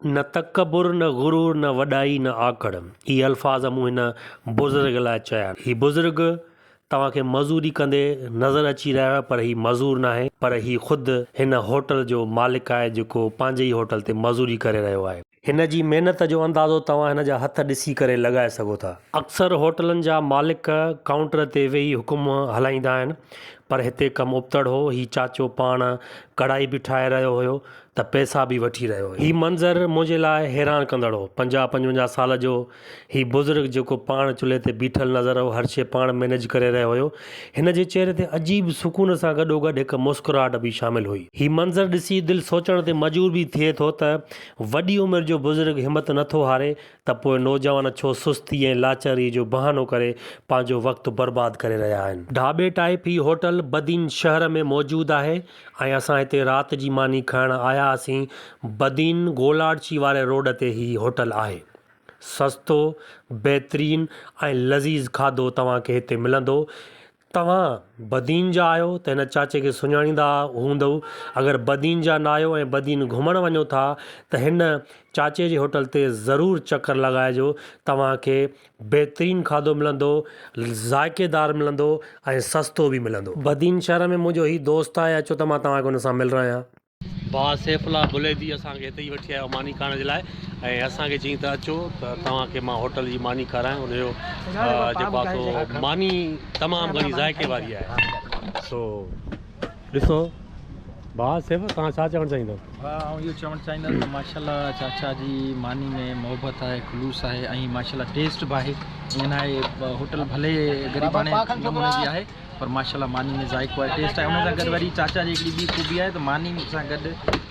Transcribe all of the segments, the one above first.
نه تڪبر، نه غرور، نه وڏائي، نه آڪڙ. هي الفاظ مون هن بزرگ لاء چيا آهن. هي بزرگ توهان کي مزوري ڪندي نظر اچي رهيو آهي پر هي مزور ناهي پر هي خود هن هوٽل جو مالڪ آهي جيڪو پنهنجي ئي هوٽل تي مزوري ڪري رهيو آهي. هن جي محنت جو اندازو توهان هن جا هٿ ڏسي ڪري لڳائي سگهو ٿا. اڪثر هوٽلن جا مالڪ ڪائونٽر تي ويهي حڪم هلائيندا آهن پر هتي ڪم ابتڙ هو. هي چاچو پاڻ ڪڙهائي به ٺاهي رهيو هيو. ته پئسا به وٺي رهيو هو. هي منظر منهنجي لاء حيران ڪندڙ هو. پنجاهه پنجونجاهه سال جو هي بزرگ جيڪو پاڻ چلهي تي بيٺل نظر هو هر شيء پاڻ مئنيج ڪري رهيو هيو. هن جي چهري تي عجيب سڪون سان گڏوگڏ هڪ مسڪراهٽ به شامل هئي. هي منظر ڏسي دل سوچڻ تي مجور به ٿئي ٿو ته وڏي عمر جو بزرگ همت نه ٿو هاري ته پوء نوجوان ڇو سستي ۽ لاچاري جو بهانو ڪري پنهنجو وقت برباد ڪري رهيا آهن. ڍاٻي ٽائيپ هي هوٽل بدين شهر ۾ موجود آهي ۽ اسان هتي رات جي ماني کائڻ آيا هئاسين بدين گولاڙچي واري روڊ تي هي هوٽل آهي سستو بهترين ۽ لذيذ کاڌو توهان کي هتي ملندو توهان بدين جا آهيو ته هن چاچي کي سڃاڻيندا هوندؤ اگر بدين جا نه آهيو ۽ بدين گهمڻ وڃو ٿا ته هن چاچي جي هوٽل تي ضرور چڪر لڳائجو توهان کي بهترين کاڌو ملندو، ذائقي دار ملندو ۽ سستو به ملندو. بدين شهر ۾ منهنجو هي دوست آهي اچو ته مان توهان کي ان سان ملرايان. ڀاء سيف الله بليدي اسان کي هتي ئي وٺي آيو ماني کائڻ جي لاء ۽ اسان کي چيائين ته اچو ته توهان کي مان هوٽل جي ماني کارايان ان جو جيڪو آ سو ماني تمام گهڻي ذائقي واري آهي سو ڏسو ڀاء سيف توهان ڇا چوڻ چاهيندؤ؟ ڀاء آئون اهو چوڻ چاهيندس ته ماشاء الله چاچا جي ماني ۾ محبت آهي خلوص آهي ۽ ماشاء الله ٽيسٽ به آهي ائين نه آهي هوٽل ڀلي غريباڻي نموني جي آهي پر ماشاء الله ماني ۾ ذائقو آهي ٽيسٽ آهي ان سان گڏ وري چاچا جي هڪڙي ٻي خوبي آهي ته ماني سان گڏ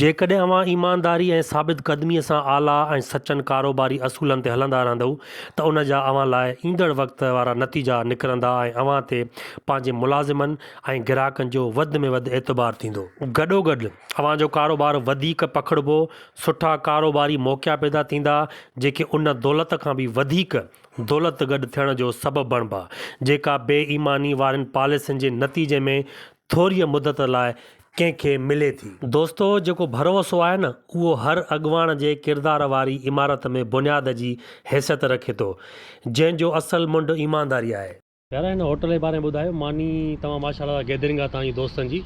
جيڪڏهن اوهان ايمانداري ۽ ثابت قدميء سان اعليٰ ۽ سچن ڪاروباري اصولن تي هلندا رهندؤ ته ان جا اوهان لاء ايندڙ وقت وارا نتيجا نڪرندا ۽ اوهان تي پنهنجي ملازمن ۽ گراهڪن جو وڌ ۾ وڌ اعتبار ٿيندو. گڏوگڏ اوهان جو ڪاروبار وڌيڪ پکڙبو، سٺا ڪاروباري موقعا پيدا ٿيندا، جيڪي ان دولت کان به وڌيڪ دولت گڏ ٿيڻ جو سبب بڻبا، جيڪا بي ايماني وارين پاليسين جي نتيجي ۾ ٿوريء مدت لاء ڪنهن کي ملي ٿي. دوستو جيڪو ڀروسو آهي نه اهو هر اڳواڻ جي ڪردار واري عمارت ۾ بنياد جي حيثيت رکي ٿو جنهن جو اصل منڍ ايمانداري آهي. يار هن هوٽل جي باري ۾ ٻڌايو. ماني توهان ماشاء الله گيدرنگ آهي توهان جي دوستن جي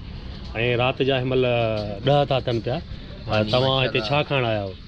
۽ رات جا هن مهل ڏهه ٿا ٿين پيا ۽ توهان هتي ڇا کائڻ آيا آهيو.